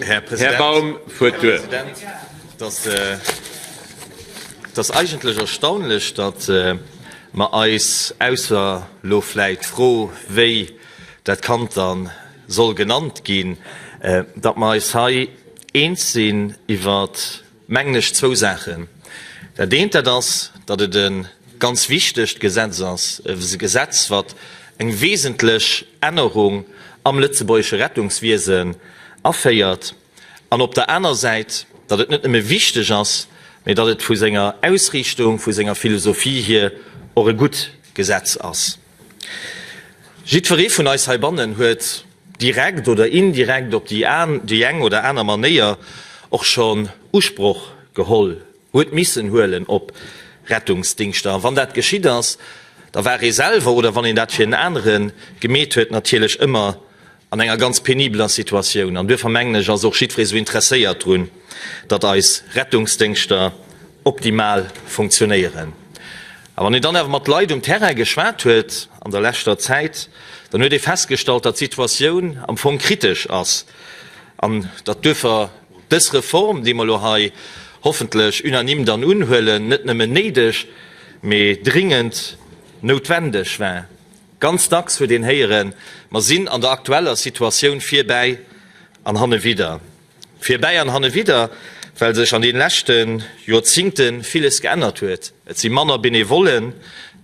Här President, et ass eigentlech erstaunlech, datt mer eis, ausser elo vläicht d'Fro, wéi dat Kand da soll genannt ginn, datt mer eis hei eens sinn iwwert mengen ech, zwou Saachen. Dat eent, dat ass, datt et e ganz wichtegt Gesetz ass, e Gesetz, wat eng wesentlech Ännerung am lëtzebuergesche Rettungswiesen aféiert, an op der aner Säit, datt et net nëmme wichteg ass, mä datt et vu senger Ausriichtung, vu senger Philosophie hier och e gutt Gesetz ass. Jiddweree vun eis heibannen huet direkt oder indirekt op déi eng oder aner Manéier och schonn Usproch geholl, huet missen huelen op Rettungsdingschter. A wann dat geschitt ass, da war ee selwer oder wann een dat fir en anere gemeet huet natierlech ëmmer an enger ganz penibeler Situatioun, an duerfir mengen ech, ass och jiddweree esou interesséiert drun, datt eis Rettungsdéngschter optimal funktionéieren. A wann een dann awer mat Leit um Terrain geschwat huet an der leschter Zäit, dann huet ee festgestallt, datt d'Situatioun am Fong kritesch ass an datt duerfir dës Reform, déi mer elo hei hoffentlech unanime dann unhuelen, net nëmmen néideg, mee dringend noutwendeg war. Ganz dacks huet een héieren, Mer sinn an der aktueller Situatioun virbäi an hannewidder. Virbäi an hannewidder, well sech an den leschte Joerzingte villes geännert huet. Et si manner Benevollen,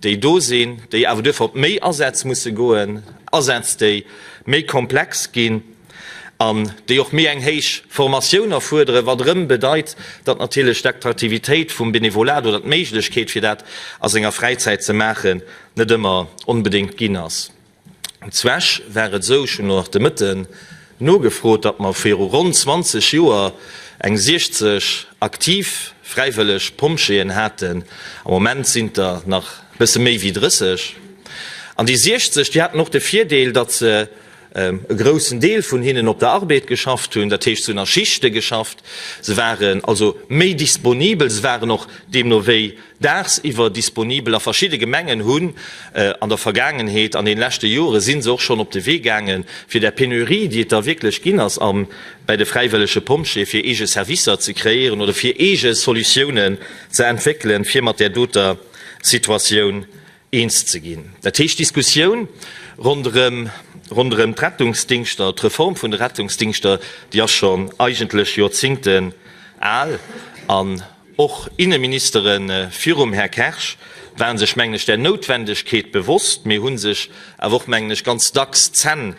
déi do sinn, déi awer duerfir op méi Asätz musse goen, Asätz, déi méi komplex ginn. an déi och méi eng héich Formatioun erfuerderen, wat erëm bedeit, datt natierlech d'Attraktivitéit vum Benevolat oder d'Méiglechkeet fir dat a senger Fräizäit ze maachen net ëmmer onbedéngt ginn ass. Zweg war et esou, ech hunn elo nach de Mëtten nogefrot, datt mer viru ronn 20 Joer eng 60 aktiv fräiwëlleg Pompjeeën haten, am Moment sinn et der nach e bësse méi wéi 30. An déi 60, déi haten och de Virdeel, datt se, e groussen Deel vun hinnen op der Arbeed geschafft hunn, dat heescht se hunn a Schichte geschafft, se waren also méi disponibel, se waren och deemno wéi dagsiwwer disponibel. A verschidde Gemengen hunn an der Vergaangenheet, an deene leschte Jore si se och schonn op de Wee gaange fir där Penurie, déi et da wierklech ginn ass bei de fräiwëllege Pompjeeë, fir eege Servicer ze kreéieren oder fir eege Solutiounen ze entwéckelen, fir mat där doter Situatioun eens ze ginn. Dat heescht, d'Diskussioun ronderëm d'Rettungsdingschter, d'Reform vun de Rettungsdingschter, déi ass schonn eigentlech Joerzingten al. An och Inneministere virum Här Kersch ware sech, mengen ech, där Noutwendegkeet bewosst, mee hu sech awer och, mengen ech, ganz dacks d'Zänn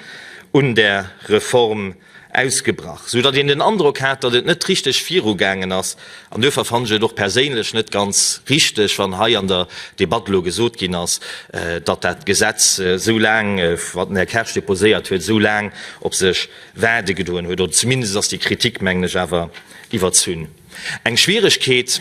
un där Reform ausgebrach, sou datt een den Androck hat, datt et net richteg viru gaangen ass. An duerfir fannen ech et och perséinlech net ganz richteg, wann hei an der Debatt elo gesot ginn ass, datt dat Gesetz esou laang, wat den Här Kersch deposéiert huet, esou laang op sech waarde gedoen huet. Oder zumindest ass déi Kritik, mengen ech, awer iwwerzunn. Eng Schwieregkeet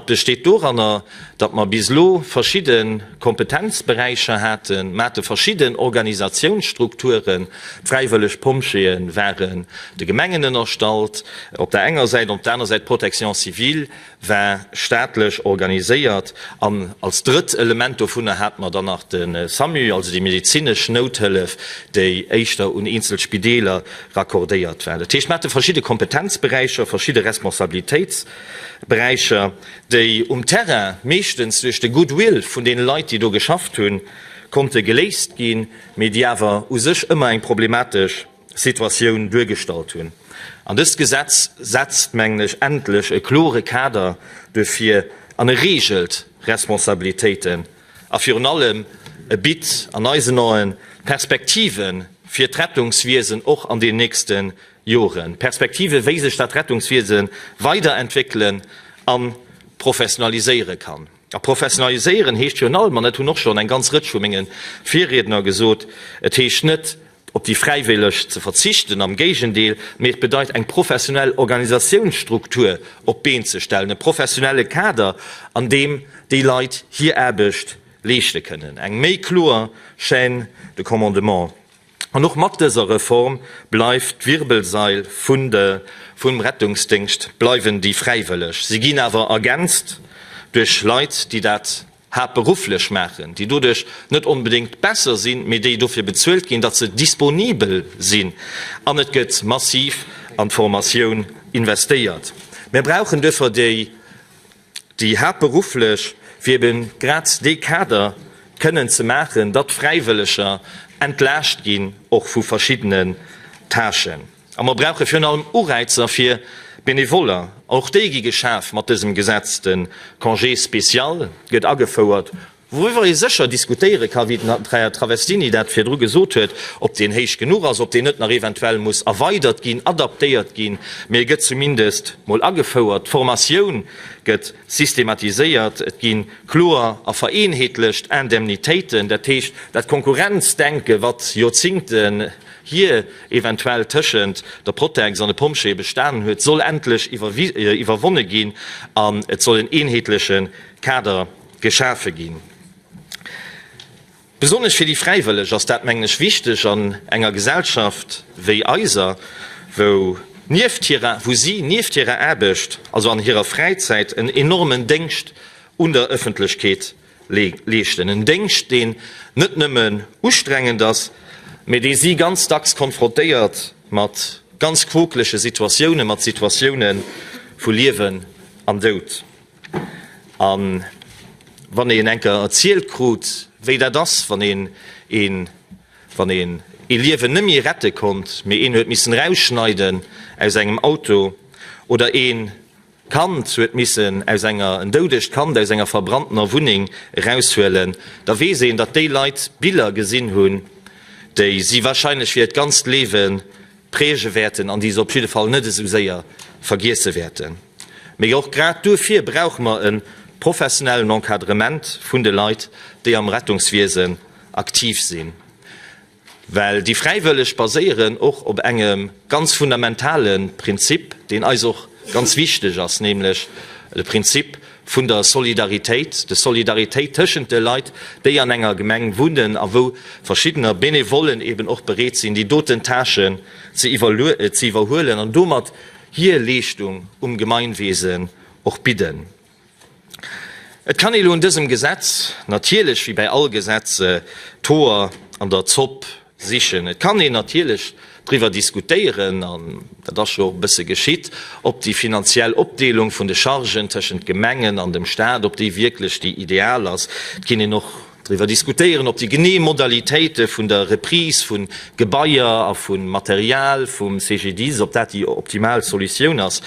besteet doranner, datt mer bis elo verschidde Kompetenzberäicher haten. Mer hate verschidden Organisatiounsstrukturen, d'fräiwëlleg Pompjeeë ware de Gemengen ënnerstallt op der enger Säit, op der aner Säit d'Protection civile war staatlech organiséiert an als drëtt Element dovunner hate mer dann nach de Samu, also déi medezinesch Nouthëllef, déi éischter un eenzel Spideeler raccordéiert war. Dat heescht, mir hate verschidde Kompetenzberäicher, verschidde Responsabilitéitsberäicher, déi um Terrain, meeschtens duerch de Goodwill vun deene Leit, déi do geschafft hunn, konnte geléist ginn, mee déi awer u sech ëmmer eng problematesch Situatioun duergestallt hunn. An dëst Gesetz setzt, mengen ech, endlech e klore Kader duerfir an e reegelt Responsabilitéiten. A virun allem, e bitt an eisen Aen Perspektive fir d'Rettungswiesen och an den nächste Joren, Perspektive wéi sech dat Rettungswiese weiderentwéckelen a professionaliséiere kann. A professionaliséieren heescht virun allem, an dat hunn och schonn eng ganz Rëtsch vu menge Virriedner gesot, et heescht net op déi Fräiwëlleg ze verzichten, am Géigendeel, mee et bedeit eng professionell Organisatiounsstruktur op d'Been ze stellen, e professionelle Kader, an deem déi Leit hir Aarbecht leeschte kënnen, eng méi kloer Chaîne de commandement. An och mat dëser Reform bleift d'Wirbelsail vum Rettungsdéngscht bleiwen déi Fräiwëlleg. Si ginn awer ergänzt duerch Leit, déi dat. haaptberufflech maachen, déi doduerch net onbedéngt besser sinn, mee déi dofir bezuelt ginn, datt se disponibel sinn, an et gëtt massiv an d'Formatioun investéiert. Mir brauchen duerfir déi, déi haaptberufflech, fir ebe grad dee Kader kënnen ze maachen, datt d'Fräiwëlleger entlaascht ginn, och vu verschiddenen Tâchen. A mer brauche virun allem Ureizer fir d'Benevoller. Och déi gi geschaf mat dësem Gesetz. De Congé spécial gëtt agefouert, wouriwwer ee sécher diskutéiere ka, wéi den Här Travestini dat virdru gesot huet, ob deen héich genuch ass, ob deen net nach eventuell muss erweidert ginn, adaptéiert ginn, mee e gëtt zumindest mol agefouert. D'Formatioun gëtt systematiséiert, et gi kloer a vereenheetlecht Indemnitéiten. Dat heescht, dat Konkurrenzdenke, wat Joerzingte hie eventuell tëschent der Protex an de Pompjeeë bestanen huet, soll endlech iwwerwonne ginn an et soll en eenheetleche Kader geschafe ginn. Besonnesch fir déi Fräiwëlleg ass dat, mengen ech, wichteg an enger Gesellschaft wéi eiser, wou nieft hirer, wou si nieft hirer Aarbecht, also an hirer Fräizäit, en enormen Déngscht un der Ëffentlechkeet leeschten. En Déngscht, deen net nëmmen ustrengend ass, mee dee si ganz dacks konfrontéiert mat ganz quokelege Situatiounen, mat Situatioune vu Liewen an Doud. A wann een enker erzielt krut, wéi dat ass, wann een ee Liewen nemme rette konnt, mee een huet missen erausschneiden aus engem Auto, oder een Kand huet missen aus enger, en doudegt Kand aus enger verbranntener Wunneng eraushuelen, da weess een, datt déi Leit Biller gesinn hunn, déi si wahrscheinlech fir hiert ganzt Lewe präge wäerten an déi se op jidde Fall net esou séier vergiesse wäerten. Mee och grad duerfir brauche mer e professionellen Encadrement vun de Leit, déi am Rettungswiesen aktiv sinn. Well déi Fräiwëlleg baséieren och op engem ganz fundamentale Prinzip, deen eis och ganz wichteg ass, nämlech de Prinzip vun der Solidaritéit, de Solidaritéit tëschent de Leit, déi an enger Gemeng wunnen a wou verschiddener Benevollen eeben och bereet sinn, déi doten Tâchen ze iwwerhuelen an domat hir Leeschtung um Gemeinwesen och bidden. Et kann ee lo un dësem Gesetz natierlech, wéi bäi all Gesetz, d'Hoer an der Zopp sichen. Et kann een natierlech driwwer diskutéieren, an dat ass jo och e bësse geschitt, ob déi finanziell Opdeelung vun de Chargen tëschent d'Gemengen an dem Staat, ob déi wierklech déi ideal ass. Et kinn een och driwwer diskutéieren, ob déi genee Modalitéite vun der Reprise vu Gebaier a vu Material vum CGDIS, ob dat déi optimal Solutioun ass.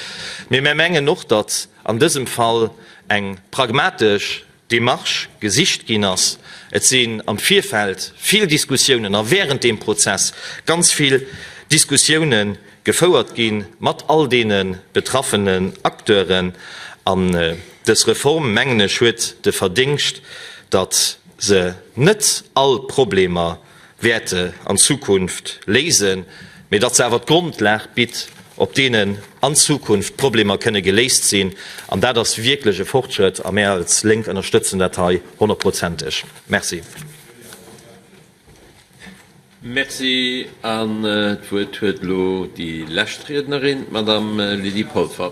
Mee mär mengen och, datt, an dësem Fall eng pragmatesch Démarche gesicht ginn ass. Et sinn am Virfeld vill Diskussiounen a während deem Prozess ganz vill Diskussiounen gefouert gi mat all deene betraffenen Acteuren. An dës Reform, mengen ech, huet de Verdéngscht, datt se net all Problemer wäerte an Zukunft léisen, mee datt se awer d'Grondlag bitt, op deenen an Zukunft d'Problemer kënne geléist sinn. An dat ass wierklech e Fortschrëtt a mär als Lénk ënnerstëtzen dat hei honnertprozenteg. Merci. Merci. An d'Wuert huet elo déi lescht Riednerin, d'Madame Lydie Polfer.